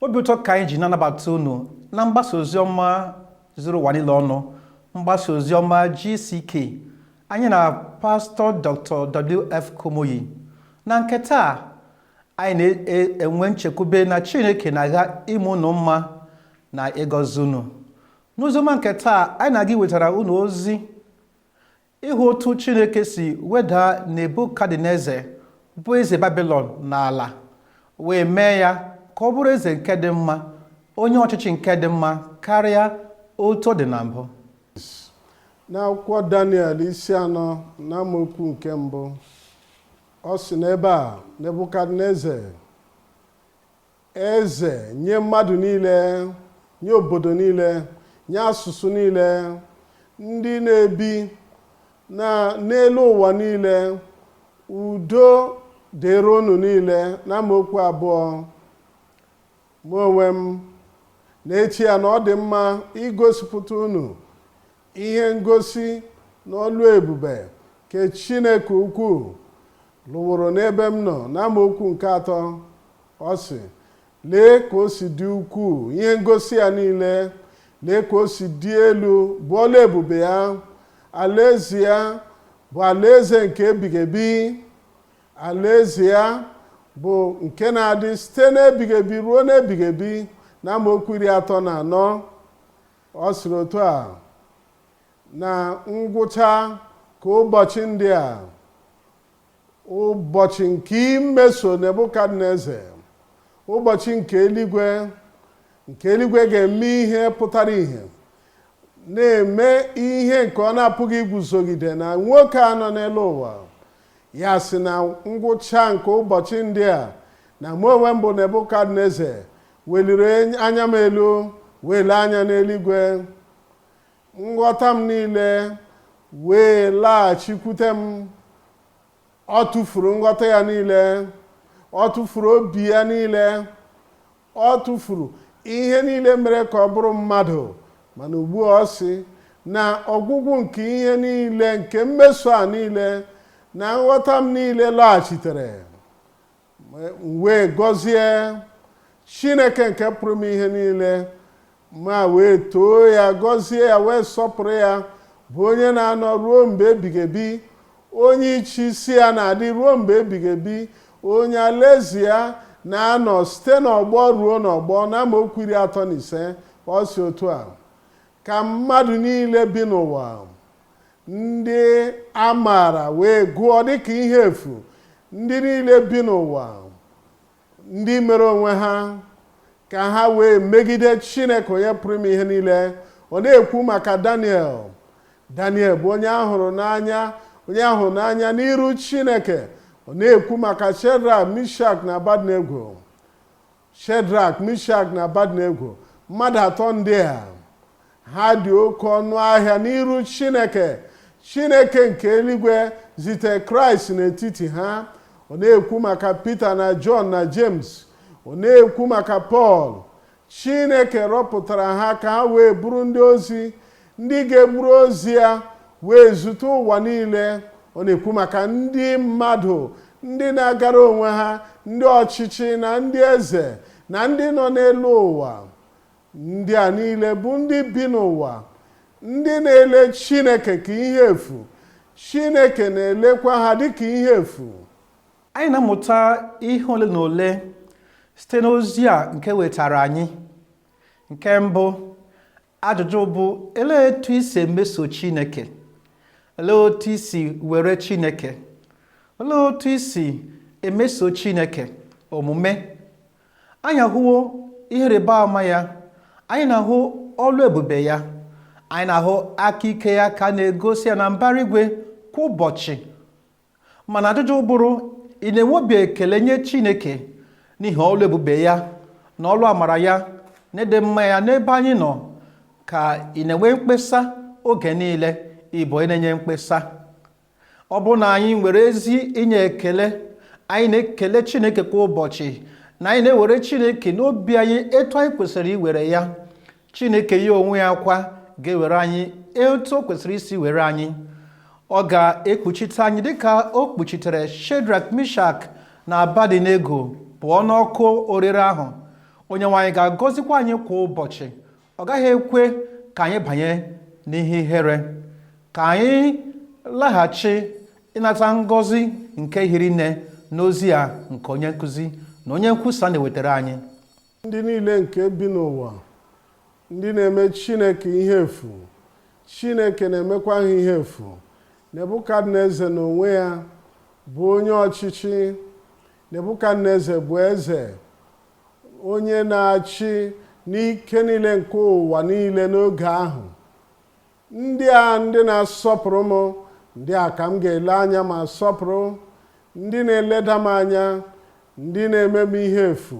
obi ụtọ ka anyị ji na-anabata unu na mgbasa ozi ọma zuru ụwa niile ọnụ mgbasa ozi ọma GCK anyị na pastọ Dr. WF Kumuyi na nke taa anyị na-enwe nchekwube na Chineke na-aga ime unu mma na ịgọzi unu n'oziọma nke taa anyị na-aga iwetara unu ozi Ịhụ otu Chineke si weda Nebukadneza bụ eze Babilọn n'ala wee mee ya ka ọ bụrụ eze nke dị mma, onye ọchịchị nke dị mma karịa otu ọ dị na mbụ. N'akwụkwọ Daniel isi anọ na amaokwu nke mbụ, ọ sị n'ebe a Nebukadneza Eze nye mmadụ niile, nye obodo niile, nye asụsụ niile, ndị na-ebi na n'elu ụwa niile, udo dịrị unu niile n'amaokwu abụọ. Mụ onwe m na-eche ya na ọ dị mma igosipụta unu Ihe ngosi na ọlụ ebube nke Chineke ukwu lụworo n'ebe m nọ n'amaokwu nke atọ ọ sị lee ka o si dị ukwuu ihe ngosi ya niile lee ka o si dị elu bụ ọlụ ebube ya alaeze ya bụ alaeze nke ebighị ebi alaeze ya bụ nke na-adị site n'ebighị ebi ruo n'ebighị ebi na amaokwu iri atọ na anọ Ọ sịrị otu a, Na ngwụcha nke ụbọchị ndị a, ụbọchị nke imeso Nebukadneza, ụbọchị nke eluigwe, nke eluigwe ga-eme ihe pụtara ihe, na-eme ihe nke ọ na-apụghị iguzogide na nwoke a nọ n'elu ụwa. Ya sị na ngwụcha nke ụbọchị ndị a, na mụ onwe m bụ Nebukadneza Weliri anya m elu, wee lee anya n'eluigwe. Nghọta m niile wee laghachikwute m. Ọ tụfuru nghọta ya niile. Ọ tụfuru obi ya niile. Ọ tụfuru ihe niile mere ka ọ bụrụ mmadụ. Mana ugbu a ọ sị na ọgwụgwụ nke ihe niile, nke mmeso a niile, na nghọta m niile laghachitere. m wee gọzie chineke nke pụrụ ime ihe niile ma wee too ya gọzie ya wee sọpụrụ ya bụ onye na-anọ ruo mgbe ebighị ebi onye ịchị isi ya na-adị ruo mgbe ebighị ebi onye alaeze ya na-anọ site n'ọgbọ ruo n'ọgbọ na amaokwu iri atọ na ise ọ sị otu a Ka mmadụ niile bi n'ụwa, ndị a maara wee gụọ dịka ihe efu, ndị niile bi n'ụwa, ndị mere onwe ha, ka ha wee megide Chineke onye pụrụ ime ihe niile. Ọ na-ekwu maka Daniel. Daniel bụ onye a hụrụ n'anya, onye a hụrụ n'anya n'iru Chineke. Ọ na-ekwu maka Shedrak, Mishak na Abadnego. Shedrak, Mishak na Abadnego, mmadụ atọ ndị a ha dị oke ọnụ ahịa n'iru Chineke. Chineke nke eluigwe zite Kraịst n'etiti ha. Ọ na-ekwu maka Pita na Jọn na Jems. Ọ na-ekwu maka Pọl. Chineke rọpụtara ha ka ha wee bụrụ ndị ozi ndị ga-eburu ozi ya wee zute ụwa niile ọ na-ekwu maka ndị mmadụ ndị na-agara onwe ha ndị ọchịchị na ndị eze na ndị nọ n'elu ụwa ndị a niile bụ ndị bi n'ụwa ndị na-ele chineke ka ihe efu chineke na-elekwa ha dịka ihe efu anyị na-amụta ihe ole na ole site n'ozi a nke e wetara anyị nke mbụ Ajụjụ bụ elee etu i si emeso Chineke? Elee otu i si were Chineke? Elee otu i si emeso Chineke omume? Anyị ahụwo ihe ịrịba ama ya, anyị na-ahụ ọlụ ebube ya, anyị na-ahụ aka ike ya ka a na-egosi ya na mbara igwe kwa ụbọchị mana ajụjụ bụrụ ị na-enwe obi ekele nye chineke n'ihi ọlụ ebube ya na ọlụ amara ya na ịdị mma ya n'ebe anyị nọ ka ị na-enwe mkpesa oge niile ị bụ onye na-enye mkpesa ọ bụrụ na anyị nwere ezi inye ekele anyị na-ekele chineke kwa ụbọchị na anyị na-ewere chineke n'obi anyị etu anyị kwesịrị iwere ya chineke ya onwe ya kwa ga-ewere anyị etu o kwesịrị isi were anyị ọ ga-ekpuchite anyị dịka o kpuchitere shedrak mishak na abadinego pụọ n'ọkụ orire ahụ onyenwe anyị ga-agọzikwa anyị kwa ụbọchị ọ gaghị ekwe ka anyị banye n'ihe ihere ka anyị laghachi ịnata ngọzi nke hiri nne n'ozi a nke onye nkụzi na onye nkwusa na-ewetara anyị ndị niile nke bi n'ụwa ndị na-eme chineke ihe efu chineke na-emekwa ha ihe efu nebukadneza n'onwe ya bụ onye ọchịchị nebukadneza bụ eze onye na-achị n'ike niile nke ụwa niile n'oge ahụ Ndị a ndị na-asọpụrụ m, ndị a ka m ga-ele anya ma sọpụrụ, ndị na-eleda m anya, ndị na-eme m ihe efu,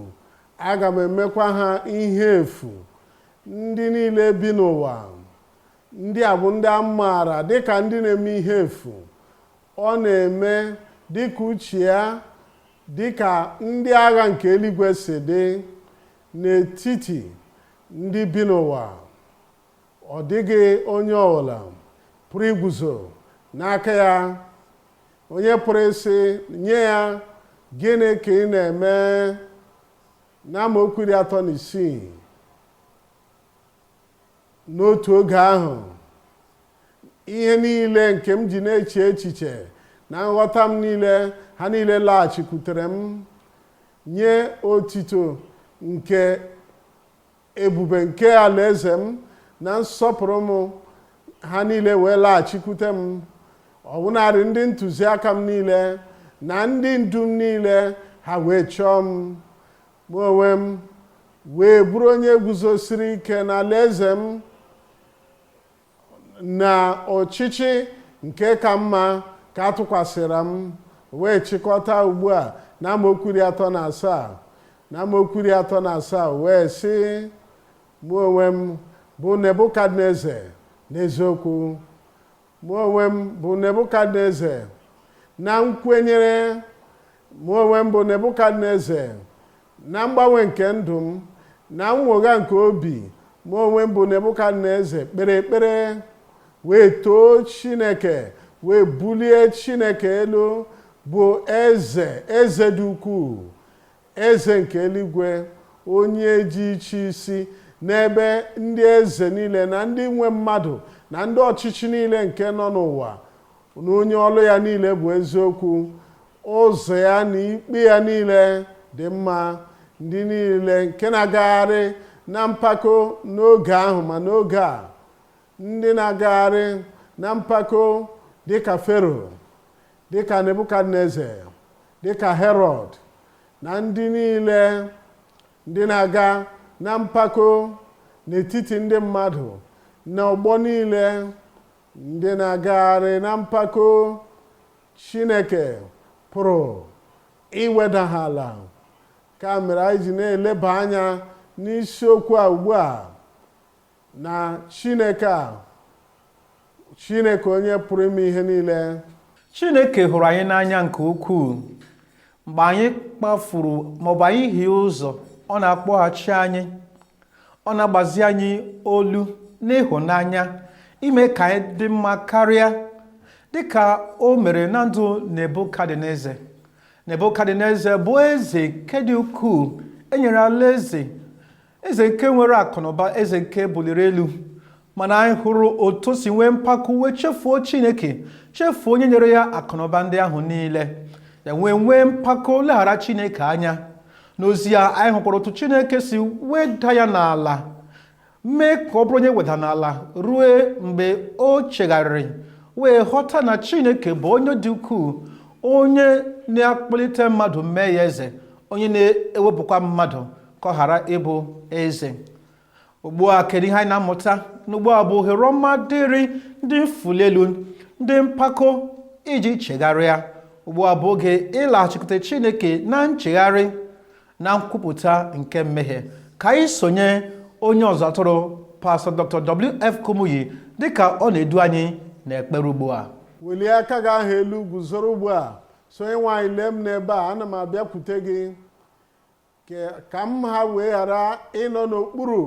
aga m emekwa ha ihe efu. Ndị niile bi n'ụwa, ndị a bụ ndị a maara dị ka ndị na-eme ihe efu. Ọ na-eme dị ka uche ya, dị ka ndị agha nke eluigwe si dị n'etiti ndị bi n'ụwa. Ọ dịghị onye ọbụla pụrụ iguzo n'aka ya. Onye pụrụ ịsị nye ya, Gịnị ka ị na-eme? N'amaokwu iri atọ na isii n'otu oge ahụ ihe niile nke m ji na-eche echiche na nghọta m niile ha niile laghachikwutere m nye otito nke Ebube nke alaeze m na nsọpụrụ m ha niile wee laghachikwute m ọbụnarị ndị ntụziaka m niile na ndị ndu m niile ha wee chọọ m mụ onwe m wee bụrụ onye guzosiri ike n'alaeze m na ọchịchị nke ka mma ka a tụkwasịra m wee chịkọta ugbu a na amaokwu iri atọ na asaa na amaokwu iri atọ na asaa wee sị mụ onwe m bụ nebukadneze n'eziokwu mụ onwe m bụ nebukadneze na nkwenyere mụ onwe m bụ nebukadneze na mgbanwe nke ndụ m na nnwogha nke obi mụ onwe m bụ nebukadneze kpere ekpere wee too chineke wee bulie chineke elu bụ eze eze dị ukwuu eze nke eluigwe onye ji iche isi n'ebe ndị eze niile na ndị nwe mmadụ na ndị ọchịchị niile nke nọ n'ụwa na onye ọlụ ya niile bụ eziokwu ụzọ ya na ikpe ya niile dị mma ndị niile nke na-agagharị na mpako n'oge ahụ ma n'oge a ndị na-agagharị na mpako dịka fero dịka nebukadneze dịka herọd na ndị niile ndị na-aga na mpako n'etiti ndị mmadụ na ọgbọ niile Ndị na-agagharị na mpako, Chineke pụrụ iweda ha ala. Nke a mere anyị ji na-eleba anya n'isiokwu a ugbu a na Chineke a, Chineke onye pụrụ ime ihe niile. Chineke hụrụ anyị n'anya nke ukwuu. mgbe anyị kpafuru maọbụ anyị hie ụzọ ọ na-akpọghachi anyị ọ na-agbazi anyị olu n'ịhụnanya ime ka anyị dị mma karịa dịka o mere na ndụ nebukadneze nebukadneze bụ eze nke dị ukwuu enyere alaeze eze nke nwere akụnụba eze nke buliri elu mana anyị hụrụ otu o si nwee mpako wee chefuo chineke chefuo onye nyere ya akụnụba ndị ahụ niile ya nwee nwee mpako leghara chineke anya n'ozi a anyị hụkwara otu chineke si weda ya n'ala mee ka ọ bụrụ onye weda n'ala ruo mgbe o chegharịrị wee ghọta na chineke bụ onye dị ukwuu onye na-akpọlite mmadụ mee ya eze onye na-ewepụkwa mmadụ ka ọ ghara ịbụ eze ugbu a kedu ihe anyị na-amụta na ugbu a bụ ohere ọma dịrị ndị mfuli elu ndị mpako iji chegharịa ugbu a bụ oge ịlaghachikwute chineke na nchegharị na nkwupụta nke mmehie ka anyị sonye onye ọzụ atụrụ pastọ dr wf kumuyi dịka ọ na-edu anyị n'ekpere ugbu a welie aka gị ahụ elu guzoro ugbu a sị onye nwe anyị lee m n'ebe a ana m abịakwute gị Ke- ka m ha wee ghara ịnọ n'okpuru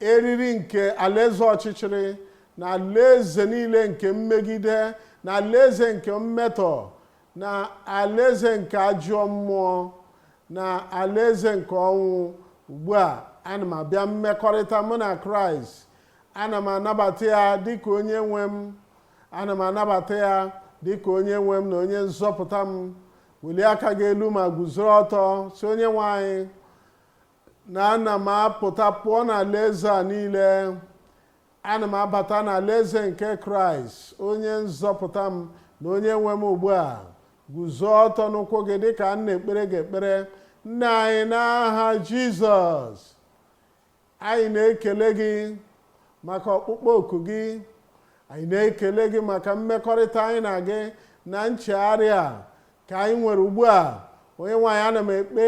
eriri nke alaeze ọchịchịrị na alaeze niile nke mmegide na alaeze nke mmetọ na alaeze nke ajọ mmụọ na alaeze nke ọnwụ ugbu a ana m abịa mmekọrịta mụ na kraịst ana m anabata ya dịka onye nwe m ana m anabata ya dịka onye nwe m na onye nzọpụta m welie aka gị elu ma guzoro ọtọ sị onye nwe anyị na ana m apụta pụọ n'alaeze a niile ana m abata n'alaeze nke kraịst onye nzọpụta m na onye nwe m ugbu a guzo ọtọ n'ụkwụ gị dịka m na-ekpere gị ekpere nna anyị n'aha jizọs Anyị na-ekele gị maka ọkpụkpọ oku gị. Anyị na-ekele gị maka mmekọrịta anyị na gị na nchegharị a ka anyị nwere ugbu a. Onye nwe anyị ana m ekpe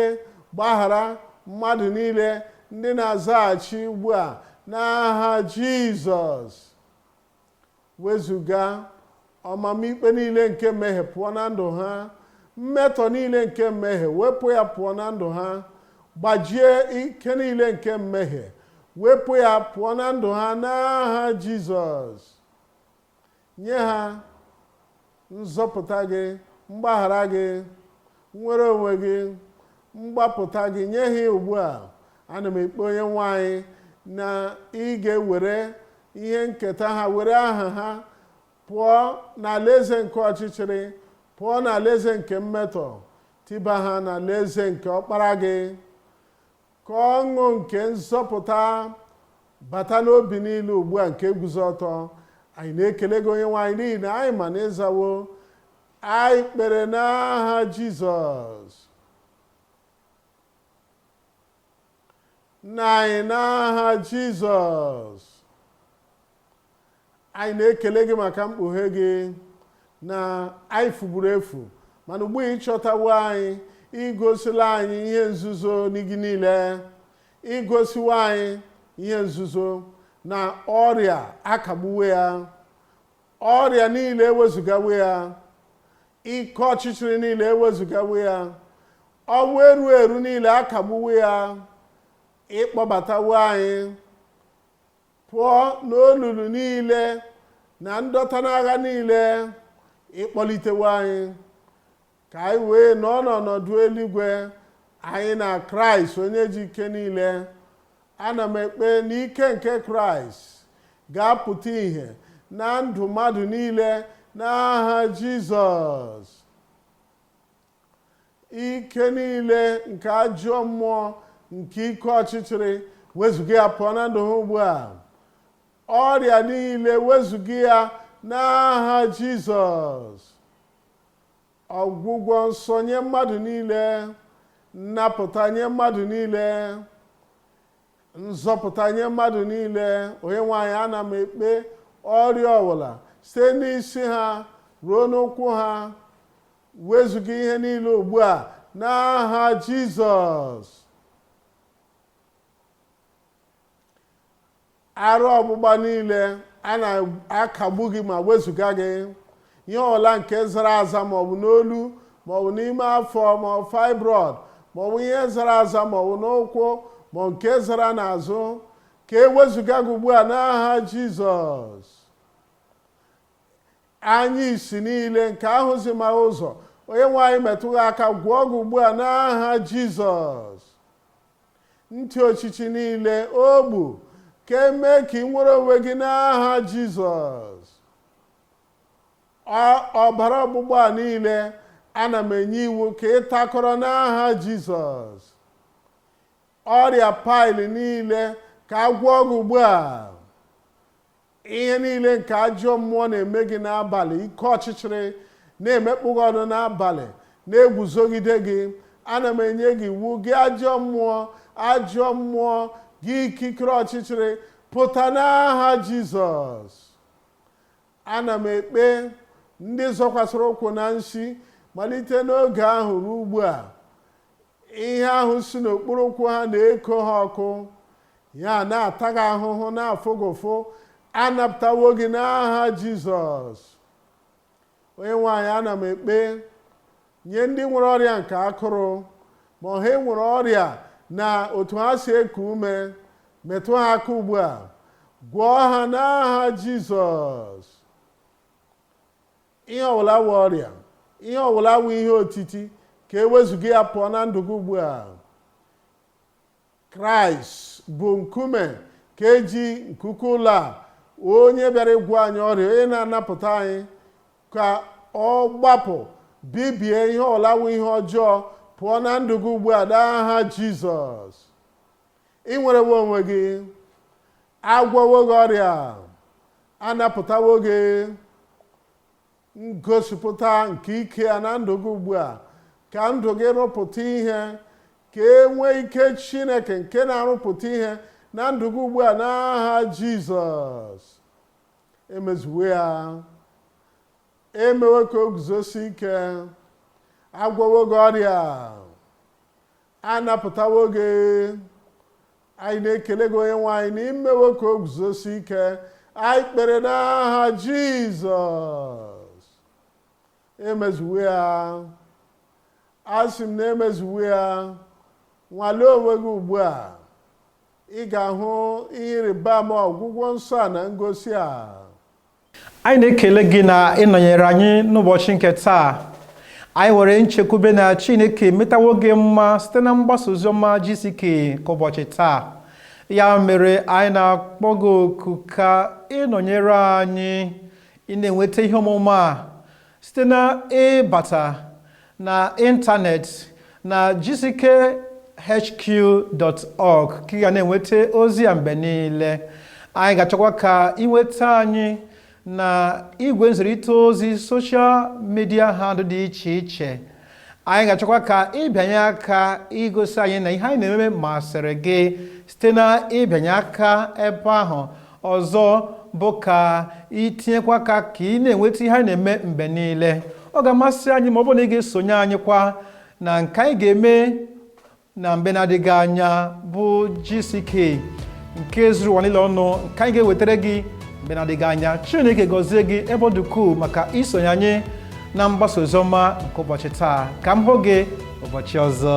gbaghara mmadụ niile ndị na-azaghachi ugbu a n'aha Jizọs. wezuga ọmụma ikpe niile nke mmehie pụọ na ndụ ha mmetọ niile nke mmehie wepụ ya pụọ na ndụ ha gbajie ike niile nke mmehie wepụ ya pụọ na ndụ ha n'aha jizọs nye ha nzọpụta gị mgbaghara gị nnwere onwe gị mgbapụta gị nye ha ugbu a ana m ekpe onye nwe anyị na ị ga-ewere ihe nketa ha were aha ha pụọ n'alaeze nke ọchịchịrị pụọ n'alaeze nke mmetọ tiba ha n'alaeze nke ọkpara gị Ka ọṅụ nke nzọpụta bata n'obi niile ugbu a nke guzo ọtọ. Anyị na-ekele gị onye nwe anyị n'ihi na anyị ma na ị zawo anyị kpere n'aha Jizọs. Nna anyị n'aha Jizọs. anyị na-ekele gị maka mkpughe gị na anyị fuburu efu mana ugbu a ị chọtawo anyị i gosila anyị ihe nzuzo n'igi niile i gosiwo anyị ihe nzuzo na ọrịa akagbuwo ya ọrịa niile ewezugawo ya ike ọchịchịrị niile ewezugawo ya ọnwụ erughị eru niile akagbuwo ya ị kpọbatawo anyị pụọ n'olulu niile na ndọta n'agha niile ị kpọlitewo anyị ka anyị wee nọ n'ọnọdụ eluigwe anyị na kraịst onye ji ike niile ana m ekpe na ike nke kraịst ga-apụta ìhè na ndụ mmadụ niile n'aha jizọs ike niile nke ajọ mmụọ nke ike ọchịchịrị wezuga ya pụọ na ndụ ha ugbu a ọrịa niile wezuga ya n'aha jizọs ọgwụgwọ nsọ nye mmadụ niile nnapụta nye mmadụ niile nzọpụta nye mmadụ niile onye nwe anyị ana m ekpe ọrịa ọbụla site n'isi ha ruo n'ụkwụ ha Wezuga ihe niile ugbu a n'aha Jizọs. Arụ ọgbụgba niile a na-akagbu gị ma wezuga gị ihe ọbụla nke zara aza maọbụ n'olu maọbụ n'ime afọ maọbụ fibroid maọbụ ihe zara aza maọbụ n'ụkwụ maọbụ nke zara n'azụ ka e wezuga gị ugbu a n'aha Jizọs. Anya isi niile nke ahụzimaghị ụzọ, onye nwe anyị metụ gị aka gwọọ gị ugbu a n'aha Jizọs. Ntị ochichi niile ogbi ka e mee ka i nwere onwe gị n'aha Jizọs. Ọbara ọgbụgba a niile ana m enye iwu ka ị takọrọ n'aha Jizọs. Ọrịa pile niile ka a gwọọ gị ugbu a. ihe niile nke ajọ mmụọ na-eme gị n'abalị ike ọchịchịrị na-emekpọ gị ọnụ n'abalị na-eguzogide gị ana m enye gị iwu gị ajọ mmụọ ajọ mmụọ gị ikikere ọchịchịrị pụta n'aha jizọs ana m ekpe ndị zọkwasịrị ụkwụ na nsi malite n'oge ahụ ruo ugbu a ihe ahụ si n'okpuru ụkwụ ha na-eko ha ọkụ ya na-ata gị ahụhụ na-afụ gị ụfụ anapụtawo gị n'aha jizọs onye nwe anyị ana m ekpe nye ndị nwere ọrịa nke akụrụ ma ọ ha nwere ọrịa na otu ha si eku ume metụ ha aka ugbu a gwọọ ha n'aha jizọs Ihe ọbụla wụ ọrịa, ihe ọbụla wụ ihe otiti, ka e wezụga ya pụọ na ndụ gị ugbu a. Kraịst bụ nkume nke ji nkuku ụlọ a, onye bịara ịgwọ anyị ọrịa, onye na-anapụta anyị ka ọ gbapụ bibie ihe ọbụla wụ ihe ọjọọ pụọ na ndụ gị ugbu a n'aha Jizọs. ị nwerewo onwe gị agwọwo gị ọrịa anapụtawo gị ngosipụta nke ike ya na ndụ gị ugbu a ka ndụ gị rụpụta ihe ka e nwee ike chineke nke na-arụpụta ihe na ndụ gị ugbu a n'aha jizọs emezuwo ya emewo ka o guzosie ike agwọwo gị ọrịa a napụtawo gị anyị na-ekele gị onye nwe anyị na i mewo ka o guzosie ike anyị kpere n'aha jizọs emezuwo ya asị m na emezuwo ya nwalee onwe gị ugbu a ị ga-ahụ ihe ịrịba ama ọgwụgwọ nsọ a na ngosi a anyị na-ekele gị na ị nọnyere anyị n'ụbọchị nke taa anyị nwere nchekwube na chineke metawo gị mma site na mgbasa oziọma GCK nke ụbọchị taa ya mere anyị na-akpọ gị oku ka ị nọnyere anyị ị na-enweta ihe ọmụma a Site na ịbata na ịntanetị na gckhq.org ka ị ga na-enweta ozi a mgbe niile. Anyị ga-achọkwa ka ị nweta anyị na igwe nzirịta ozi soshal midia handụ dị iche iche. anyị ga-achọkwa ka ị bịanye aka igosi anyị na ihe anyị na-ememe masịrị gị site na ịbịanye aka ebe ahụ ọzọ bụ ka i tinyekwa aka ka ị na-enweta ihe anyị na-eme mgbe niile ọ ga-amasị anyị ma ọ bụrụ na ị ga-esonye anyị kwa na nke anyị ga-eme na mgbe na-adịghị anya bụ GCK nke zuru ụwa niile ọnụ nke anyị ga-ewetara gị mgbe na-adịghị anya Chineke gọzie gị ebe ọ dị ukwuu maka isonye anyị na mgbasa oziọma nke ụbọchị taa ka m hụ gị ụbọchị ọzọ